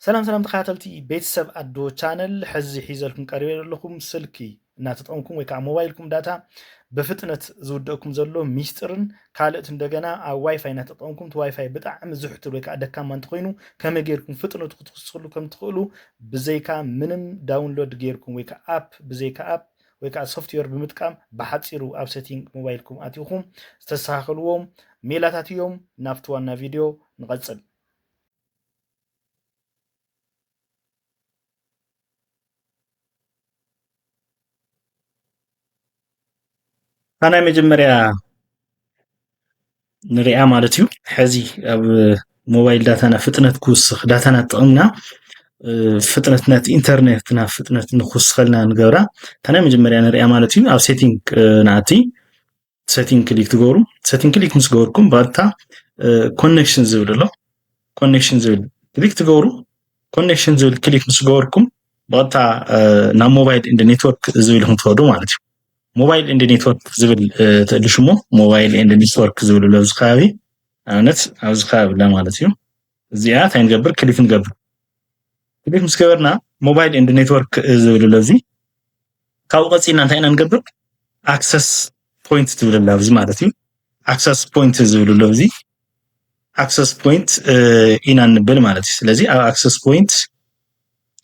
ሰላም ሰላም ተኸታተልቲ ቤተሰብ ኣዶ ቻነል ሕዚ ሒዘልኩም ቀሪበ ዘለኹም ስልኪ እናተጠቀምኩም ወይ ከዓ ሞባይልኩም ዳታ ብፍጥነት ዝውደእኩም ዘሎ ሚስጥርን ካልእት እንደገና ኣብ ዋይፋይ እናተጠቀምኩም እቲ ዋይፋይ ብጣዕሚ ዝሕትር ወይ ከዓ ደካማ እንተኮይኑ ከመይ ጌርኩም ፍጥነቱ ክትክስሉ ከም ትኽእሉ ብዘይካ ምንም ዳውንሎድ ጌርኩም ወይ ከዓ ኣፕ ብዘይካ ኣፕ ወይ ከዓ ሶፍትዌር ብምጥቃም ብሓፂሩ ኣብ ሴቲንግ ሞባይልኩም ኣትኹም ዝተስተኻኸልዎም ሜላታት እዮም ናብቲ ዋና ቪድዮ ንቐፅል እታ ናይ መጀመርያ ንሪኣ ማለት እዩ ሕዚ ኣብ ሞባይል ዳታና ፍጥነት ክውስኽ ዳታና ጥቕምና ፍጥነት ናቲ ኢንተርኔትና ፍጥነት ንክውስኸልና ንገብራ እታ ናይ መጀመርያ ንሪኣ ማለት እዩ ኣብ ሴቲንግ ንኣቲ ሰቲንግ ክሊክ ትገብሩ ሰቲንግ ክሊክ ምስ ገበርኩም ባታ ኮኔክሽን ዝብል ኣሎ ኮኔክሽን ዝብል ክሊክ ትገብሩ ኮኔክሽን ዝብል ክሊክ ምስ ገበርኩም ባታ ናብ ሞባይል እንደ ኔትወርክ ዝብል ኢኹም ትኸዱ ማለት እዩ ሞባይል እንደ ኔትወርክ ዝብል ትእሊ ሽሞ ሞባይል እንደ ኔትወርክ ዝብል ኣሎ ኣብዚ ከባቢ ኣብነት ኣብዚ ከባቢ ላ ማለት እዩ እዚኣ እንታይ ንገብር ክሊክ ንገብር ክሊክ ምስ ገበርና ሞባይል ኤንድ ኔትወርክ ዝብል ኣሎ እዚ ካብኡ ቀፂልና እንታይ ኢና ንገብር ኣክሰስ ፖይንት ትብል ኣላ ኣብዚ ማለት እዩ ኣክሰስ ፖይንት ዝብል ኣሎ እዚ ኣክሰስ ፖይንት ኢና ንብል ማለት እዩ ስለዚ ኣብ ኣክሰስ ፖይንት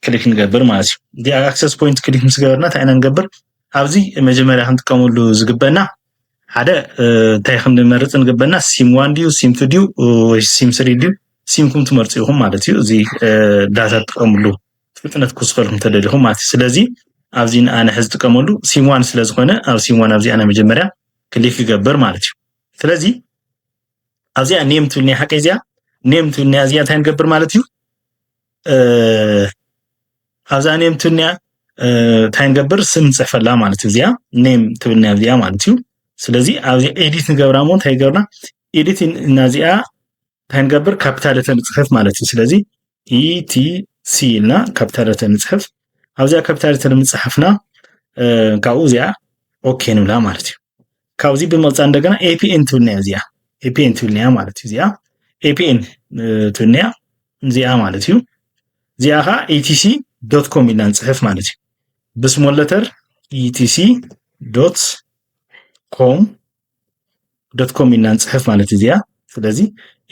ክሊክ ንገብር ማለት እዩ እዚ ኣብ ኣክሰስ ፖይንት ክሊክ ምስ ገበርና እንታይ ኢና ንገብር ኣብዚ መጀመርያ ክንጥቀመሉ ዝግበና ሓደ እንታይ ክንመርፅ ንግበና ሲም ዋን ድዩ ሲም ቱ ድዩ ወይ ሲም ስሪ ድዩ ሲምኩም ትመርፁ ኢኹም ማለት እዩ እዚ ዳታ ትጥቀምሉ ፍጥነት ክውስኸልኩም ተደሊኹም ማለት እዩ ስለዚ ኣብዚ ንኣነ ሕዚ ዝጥቀመሉ ሲም ዋን ስለ ዝኾነ ኣብ ሲም ዋን ኣብዚኣ ናይ መጀመርያ ክሊክ ክገብር ማለት እዩ ስለዚ ኣብዚኣ ኔም ትብል ናይ ሓቂ እዚኣ ኔም ትብል ናይ እዚኣ እንታይ ንገብር ማለት እዩ ኣብዛ ኔም ትብልኒያ እንታይ ንገብር ስም ንፅሕፈላ ማለት እዩ እዚኣ ኔም ትብልኒያ እዚኣ ማለት እዩ ስለዚ ኣብዚ ኤዲት ንገብራ እሞ እንታይ ይገብርና ኤዲት እና እዚኣ እንታይ ንገብር ካፒታል እተ ንፅሕፍ ማለት እዩ ስለዚ ኢቲሲ e ኢልና ካፒታል እተ ንፅሕፍ ኣብዚኣ ካፒታል እተ ንምፅሓፍና ካብኡ እዚኣ ኦኬ ንብላ ማለት እዩ ካብዚ ብምቕፃል እንደገና ኤፒኤን ትብል ነያ እዚኣ ኤፒኤን ትብል ነያ ማለት እዩ እዚኣ ኤፒኤን ትብል ነያ እዚኣ ማለት እዩ እዚኣ ከዓ ኢቲሲ ዶት ኮም ኢልና ንፅሕፍ ማለት እዩ ብስሞል ለተር ኢቲሲ ዶት ኮም ዶት ኮም ኢልና ንፅሕፍ ማለት እዚኣ ስለዚ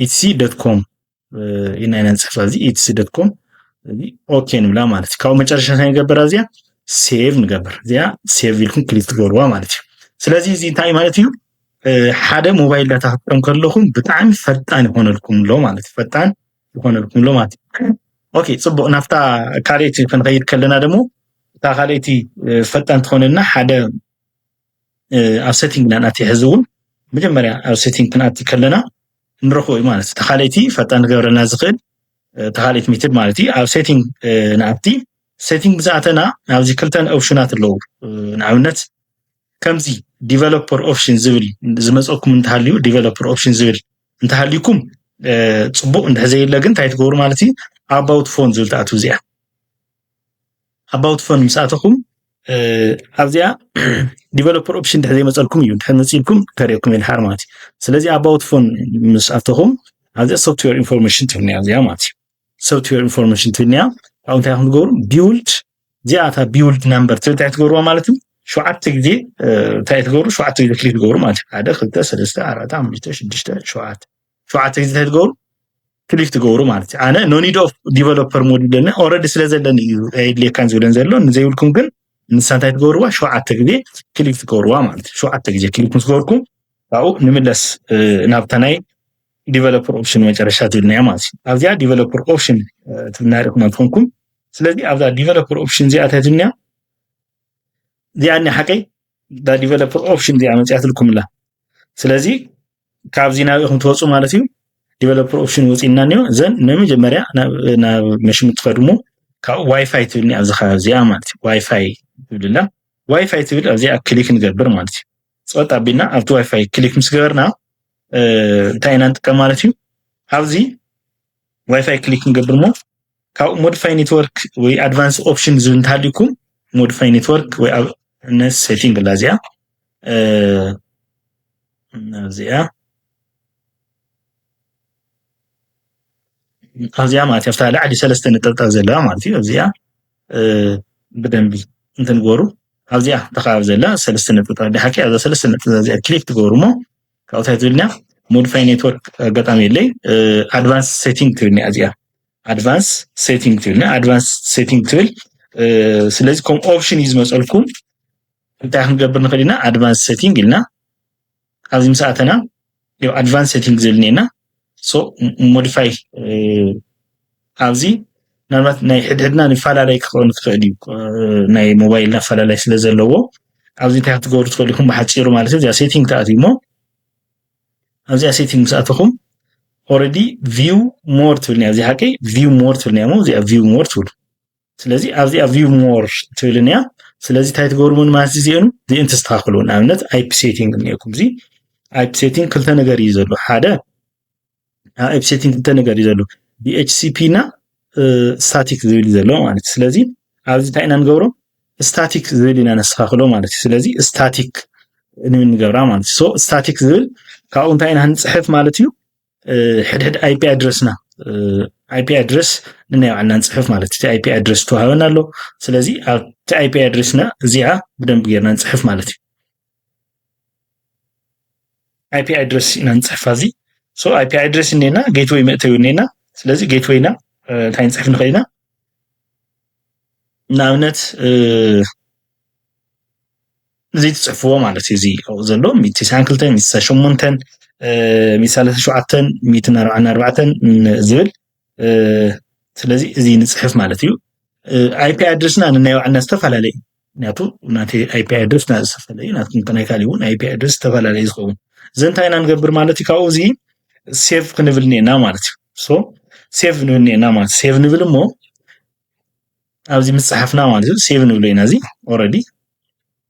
ኢቲሲ ዶት ኮም ኢና ኢና ንፅሕፋ እዚ ኢትሲ ዶት ኮም እዚ ኦኬ ንብላ ማለት እዩ ካብ መጨረሻ እንታይ ንገበራ እዚኣ ሴቭ ንገብር እዚኣ ሴቭ ኢልኩም ክሊክ ትገብርዋ ማለት እዩ ስለዚ እዚ እንታይ ማለት እዩ ሓደ ሞባይል ዳታ ክትጠም ከለኹም ብጣዕሚ ፈጣን ይኾነልኩም ኣሎ ማለት እዩ ፈጣን ይኾነልኩም ኣሎ ማለት እዩ ኦኬ ፅቡቅ ናብታ ካልኦት ክንኸይድ ከለና ደግሞ እታ ካልኦቲ ፈጣን ትኾነልና ሓደ ኣብ ሴቲንግ ኢና ንኣቲ ሕዚ እውን መጀመርያ ኣብ ሴቲንግ ክንኣቲ ከለና ንረኽቦ እዩ ማለት እቲ ካልእቲ ፈጣን ክገብረልና ዝኽእል እቲ ካልእት ሜትድ ማለት እዩ ኣብ ሴቲንግ ንኣቲ ሴቲንግ ብዝኣተና ኣብዚ ክልተን ኦፕሽናት ኣለዉ ንኣብነት ከምዚ ዲቨሎፐር ኦፕሽን ዝብል ዝመፀኩም እንተሃልዩ ዲቨሎፐር ኦፕሽን ዝብል እንተሃልዩኩም ፅቡቕ እንድሕዘየለ ግን እንታይ ትገብሩ ማለት እዩ ኣባውት ፎን ዝብል ትኣትው እዚኣ ኣባውት ፎን ምስ ኣተኹም ኣብዚኣ ዲቨሎፐር ኦፕሽን ድሕሪ ዘይመፀልኩም እዩ ድሕሪ መፅልኩም ከርእየኩም የድሓር ማለት እዩ ስለዚ ኣባውት ፎን ምስ ኣተኹም ኣብዚኣ ሶፍትዌር ኢንፎርሜሽን ትብል እኒኣ እዚኣ ማለት እዩ ሶፍትዌር ኢንፎርሜሽን ትብል እኒኣ ካብኡ እንታይ ከም ትገብሩ ቢውልድ እዚኣ እታ ቢውልድ ናምበር ትብል እንታይ ትገብርዋ ማለት እዩ ሸውዓተ ግዜ እንታይ ትገብሩ ሸውዓተ ግዜ ክሊክ ትገብሩ ማለት እዩ ሓደ ክልተ ሰለስተ ኣርባዕተ ሓሙሽተ ሽዱሽተ ሸውዓተ ሸውዓተ ግዜ እንታይ ትገብሩ ክሊክ ትገብሩ ማለት እዩ ኣነ ኖኒድ ኦፍ ዲቨሎፐር ሞድ ይብለኒ ኦረዲ ስለ ዘለኒ እዩ ኣየድልየካን ዝብለን ዘሎ ንዘይብልኩም ግን ንሳ እንታይ ትገብርዋ ሸውዓተ ግዜ ክሊክ ትገብርዋ ማለት እዩ ሸውዓተ ግዜ ክሊክ ምስ ገበርኩም ካብኡ ንምለስ ናብታ ናይ ዲቨሎፐር ኦፕሽን መጨረሻ ትብልና እያ ማለት እዩ ኣብዚኣ ዲቨሎፐር ኦፕሽን ትብልና ሪእኹም ኣትኾንኩም ስለዚ ኣብዛ ዲቨሎፐር ኦፕሽን እዚኣ እንታይ ትብልና እዚኣ ሓቀይ እታ ዲቨሎፐር ኦፕሽን እዚኣ መፅያትልኩም ኣላ ስለዚ ካብዚ ናብ ኢኹም ትወፁ ማለት እዩ ዲቨሎፐር ኦፕሽን ወፂና እኒኦ ዘን ንመጀመርያ ናብ መሽን ትኸድሞ ካብ ዋይፋይ ትብልኒ ኣብዚ ከባቢ እዚኣ ማለት እዩ ዋይፋይ ትብልላ ዋይፋይ ትብል ኣብዚኣ ክሊክ ንገብር ማለት እዩ ፀጥ ኣቢልና ኣብቲ ዋይፋይ ክሊክ ምስ ገበርና እንታይ ኢና ንጥቀም ማለት እዩ ኣብዚ ዋይፋይ ክሊክ ንገብር ሞ ካብኡ ሞዲፋይ ኔትወርክ ወይ ኣድቫንስ ኦፕሽን ዝብል እንተሃልዩኩም ሞዲፋይ ኔትወርክ ወይ ኣብ ነስ ሴቲንግ ኣላ እዚኣ እዚኣ ኣብዚኣ ማለት ኣብታ ላዕሊ ሰለስተ ነጠብጣብ ዘለዋ ማለት እዩ ኣብዚኣ ብደንቢ እንትንገሩ ኣብዚኣ ተኸባቢ ዘላ ሰለስተ ነጠብጣብ ድሓቂ ኣብዛ ሰለስተ ነጠብጣብ እዚኣ ክሊክ ትገብሩ እሞ ካብኡ እንታይ ትብልና ሞዲፋይ ኔትወርክ ኣጋጣሚ የለይ ኣድቫንስ ሴቲንግ ትብልና እዚኣ ኣድቫንስ ሴቲንግ ትብል ናይ ኣድቫንስ ሴቲንግ ትብል ስለዚ ከም ኦፕሽን እዩ ዝመፀልኩም እንታይ ክንገብር ንኽእል ኢና ኣድቫንስ ሴቲንግ ኢልና ኣብዚ ምስ ኣተና ኣድቫንስ ሴቲንግ ዝብል እኒኤና ሶ ሞዲፋይ ኣብዚ ምናልባት ናይ ሕድሕድና ንፈላለይ ክኸውን ክኽእል እዩ ናይ ሞባይልና ኣፈላለይ ስለ ዘለዎ ኣብዚ እንታይ ክትገብሩ ትኽእሉ ኢኹም ብሓፂሩ ማለት እዩ እዚኣ ሴቲንግ ተኣትዩ እሞ ኣብዚኣ ሴቲንግ ምስ ኣተኹም ኦረዲ ቪው ሞር ትብል እያ እዚኣ ሓቀይ ቪው ሞር ትብል እያ እሞ እዚኣ ቪው ሞር ትብሉ ስለዚ ኣብዚኣ ቪው ሞር ትብልን እያ ስለዚ እንታይ ትገብርዎ ማለት እዚኦም እዚኦም ተስተካክሉ ንኣብነት ኣይፒ ሴቲንግ እኒኦኩም እዚ ኣይፒ ሴቲንግ ክልተ ነገር እዩ ዘሎ ሓደ ኣብ ሴቲንግ እንተ ነገር እዩ ዘሎ ዲኤችሲፒ እና ስታቲክ ዝብል እዩ ዘሎ ማለት እዩ ስለዚ ኣብዚ እንታይ ኢና ንገብሮ ስታቲክ ዝብል ኢና ነስተካክሎ ማለት እዩ ስለዚ ስታቲክ ንገብራ ማለት እዩ ሶ ስታቲክ ዝብል ካብኡ እንታይ ኢና ንፅሕፍ ማለት እዩ ሕድሕድ ኣይፒ ኣድረስና ኣይፒ ኣድረስ ንናይ ባዕልና ንፅሕፍ ማለት እቲ ኣይፒ ኣድረስ ተዋህበና ኣሎ ስለዚ ኣብቲ ኣይፒ ኣድረስና እዚኣ ብደንብ ጌርና ንፅሕፍ ማለት እዩ ኣይፒ ኣድረስ ኢና ንፅሕፋ እዚ ሶ ኣይፒ ኣድረስ እኒና ጌትወይ መእተዊ እኒና ስለዚ ጌትወይና እንታይ ንፅሕፍ ንኽእል ኢና ንኣብነት እዚ ትፅሕፍዎ ማለት እዩ እዚ ዘሎ ሚእቲ ትስዓን ክልተን ሚእቲ ትስዓን ሸሞንተን ሚእቲ ሰላሳ ሸውዓተን ሚእትን ኣርባዓን ኣርባዕተን ዝብል ስለዚ እዚ ንፅሕፍ ማለት እዩ ኣይፒ ኣድረስና ንናይ ባዕልና ዝተፈላለየ እዩ ምክንያቱ ናተይ ኣይፒ ኣድረስ ዝተፈለየ እዩ ናትኩም ከናይ ካልእ እውን ኣይፒ ኣድረስ ዝተፈላለየ ዝኸውን እዚ እንታይ ኢና ንገብር ማለት እዩ ካብኡ እዚ ሴቭ ክንብል እኒአና ማለት እዩ ሶ ሴቭ ንብል እኒአና ማለት ሴቭ ንብል እሞ ኣብዚ ምፅሓፍና ማለት እዩ ሴቭ ንብሎ ኢና እዚ ኦረዲ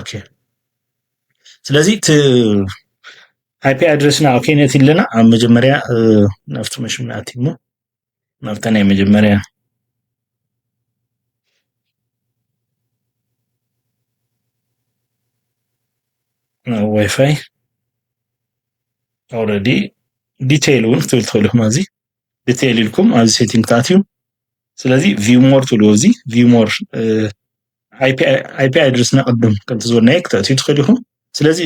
ኦኬ ስለዚ እቲ ኣይፒ ኣድረስና ኦኬ ነት ኣለና ኣብ መጀመርያ ናብቲ መሽን ናቲ እሞ ናብታ ናይ መጀመርያ ዋይፋይ ኦልሬዲ ዲቴይል እውን ክትብል ትኽእሉ እዚ ዲቴይል ኢልኩም ኣብዚ ሴቲንግ ትኣትዩ ስለዚ ቪው ሞር ትብልዎ እዚ ቪው ሞር ኣይፒ ኣድረስና ቅድም ከምቲ ዝበልናዮ ክተእትዩ ትኽእል ኢኹም ስለዚ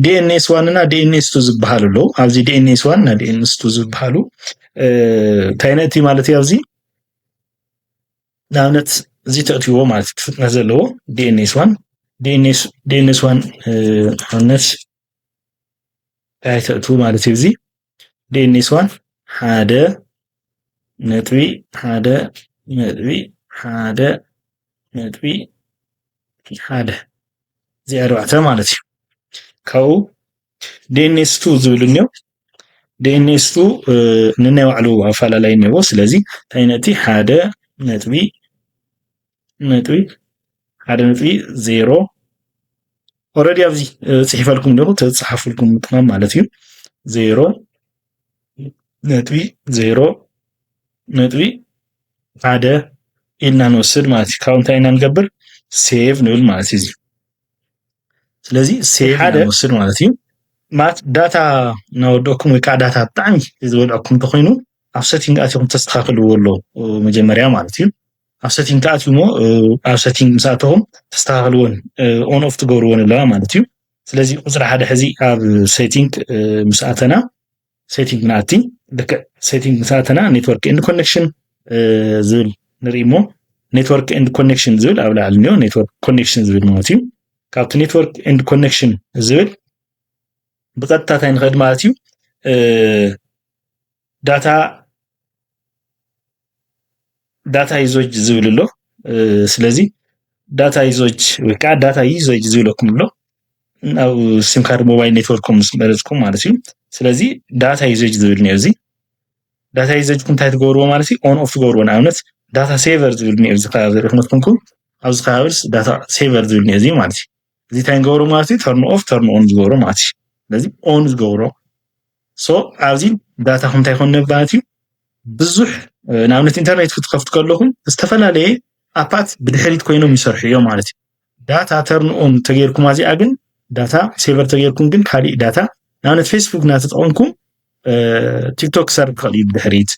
ዲኤንኤስ ዋን እና ዲኤንኤስ ቱ ዝበሃሉ ኣለዉ ኣብዚ ዲኤንኤስ ዋን እና ዲኤንኤስ ቱ ዝበሃሉ እንታይ ነቲ ማለት እዩ ኣብዚ ንኣብነት እዚ ተእትዎ ማለት እዩ ፍጥነት ዘለዎ ዲኤንኤስ ዋን ዲኤንኤስ ዋን ንኣብነት እንታይ ተእትዉ ማለት እዩ እዚ ዴኒስ ዋን ሓደ ነጥቢ ሓደ ነጥቢ ሓደ ነጥቢ ሓደ እዚ ኣርባዕተ ማለት እዩ ካብኡ ዴኒስ ቱ ዝብል እኒኦ ዴኒስ ቱ ንናይ ባዕሉ ኣፈላላይ እኒኦ ስለዚ እንታይ ነጥቢ ሓደ ነጥቢ ነጥቢ ሓደ ነጥቢ ዜሮ ኦረዲ ኣብዚ ፅሒፈልኩም ዲኹ ተፅሓፍልኩም ምጥቃም ማለት እዩ ዜሮ ነጥቢ ዜሮ ነጥቢ ሓደ ኢልና ንወስድ ማለት እዩ ካብ እንታይ ኢና ንገብር ሴቭ ንብል ማለት እዩ ስለዚ ሴቭ ሓደ ንወስድ ማለት እዩ ማለት ዳታ እናወደኩም ወይ ከዓ ዳታ ብጣዕሚ ዝበልዐኩም እንተኮይኑ ኣብ ሰቲንግ ኣትኹም ተስተካክልዎ ኣሎ መጀመርያ ማለት እዩ ኣብ ሰቲንግ ትኣትዩ እሞ ኣብ ሰቲንግ ምስ ኣተኹም ተስተኻኽልዎን ኦን ኦፍ ትገብርዎን ኣለዋ ማለት እዩ ስለዚ ቁፅሪ ሓደ ሕዚ ኣብ ሴቲንግ ምስ ኣተና ሴቲንግ ንኣቲ ልክዕ ሴቲንግ ምስ ኣተና ኔትወርክ ኤንድ ኮኔክሽን ዝብል ንርኢ እሞ ኔትወርክ ኤንድ ኮኔክሽን ዝብል ኣብ ላዕሊ እኒኦ ኔትወርክ ኮኔክሽን ዝብል ማለት እዩ ካብቲ ኔትወርክ ኤንድ ኮኔክሽን ዝብል ብቀጥታ እንታይ ንኸድ ማለት እዩ ዳታ ዳታ ይዞች ዝብል ኣሎ ስለዚ ዳታ ይዞች ወይ ከዓ ዳታ ይዞች ዝብለኩም ኣሎ ናብ ሲም ካርድ ሞባይል ኔትወርኩም ምስ መረፅኩም ማለት እዩ ስለዚ ዳታ ይዞች ዝብል እኒኦ እዚ ዳታ ይዘጅኩም እንታይ ትገብርዎ ማለት እዩ ኦን ኦፍ ትገብርዎ ንኣብነት ዳታ ሴቨር ዝብል እኒኦ እዚ ከባቢ ሪእኹም ኮንኩም ኣብዚ ከባቢ ዳታ ሴቨር ዝብል እኒኦ እዚ ማለት እዩ እዚ እንታይ ንገብሮ ማለት እዩ ተርን ኦፍ ተርን ኦን ንገብሮ ማለት እዩ ስለዚ ኦን ዝገብሮ ሶ ኣብዚ ዳታኹም እንታይ ኮን ነባለት እዩ ብዙሕ ንኣብነት ኢንተርኔት ክትከፍቱ ከለኹም ዝተፈላለየ ኣፓት ብድሕሪት ኮይኖም ይሰርሑ እዮም ማለት እዩ ዳታ ተርንኦን ተገይርኩም ኣዚኣ ግን ዳታ ሴቨር ተገይርኩም ግን ካሊእ ዳታ ንኣብነት ፌስቡክ እናተጠቐምኩም ቲክቶክ ክሰርብ ክኽእል እዩ ብድሕሪት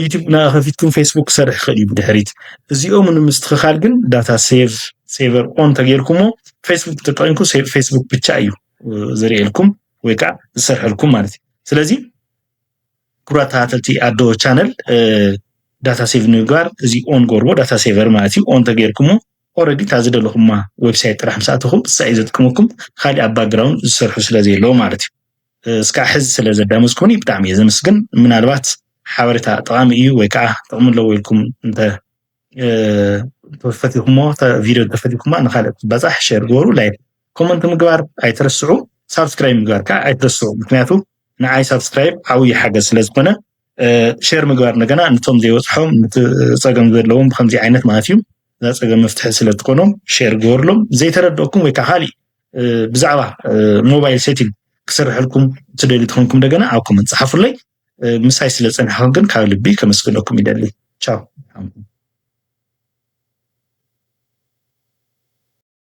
ዩቲብ ና ከፊትኩም ፌስቡክ ክሰርሕ ይኽእል እዩ ብድሕሪት እዚኦም ንምስትኽኻል ግን ዳታ ሴቭ ሴቨር ኦን ተገይርኩሞ ፌስቡክ ተጠቂምኩ ፌስቡክ ብቻ እዩ ዘርእየልኩም ወይ ከዓ ዝሰርሐልኩም ማለት እዩ ስለዚ ክቡራ ተኸታተልቲ ኣዶ ቻነል ዳታ ሴቭ ንምግባር እዚ ኦን ጎርቦ ዳታ ሴቨር ማለት እዩ ኦን ተገይርኩሞ ኦረዲ እታ ዝደለኹማ ዌብሳይት ጥራሕ ምስ ኣተኹም ንሳ እዩ ዘጥቅመኩም ካሊእ ኣብ ባክግራውንድ ዝሰርሑ ስለዘየለዎ ማለት እዩ እስካዕ ሕዚ ስለ ዘዳመፅኩምኒ ብጣዕሚ እየ ዘመስግን። ምናልባት ሓበሬታ ጠቓሚ እዩ ወይ ከዓ ጥቕሚ ኣለዎ ኢልኩም እንተ ተፈቲኹሞ ቪድዮ ተፈቲኩማ ንካልእ ትባፃሕ ሸር ግበሩ ላይክ ኮመንት ምግባር ኣይትረስዑ ሳብስክራይብ ምግባር ከዓ ኣይትረስዑ ምክንያቱ ንዓይ ሳብስክራይብ ዓብዪ ሓገዝ ስለ ዝኾነ ሸር ምግባር እንደገና ንቶም ዘይበፅሖም ንቲ ፀገም ዘለዎም ብከምዚ ዓይነት ማለት እዩ እዛ ፀገም መፍትሒ ስለ ትኮኖም ሸር ግበርሎም ዘይተረድኦኩም ወይ ከዓ ካሊእ ብዛዕባ ሞባይል ሴቲንግ ክሰርሐልኩም ትደልዩ ትኾንኩም እንደገና ኣብ ኮመንት ፀሓፉለይ ምሳይ ስለ ፀናሕኩም ግን ካብ ልቢ ከመስግነኩም ይደሊ ቻው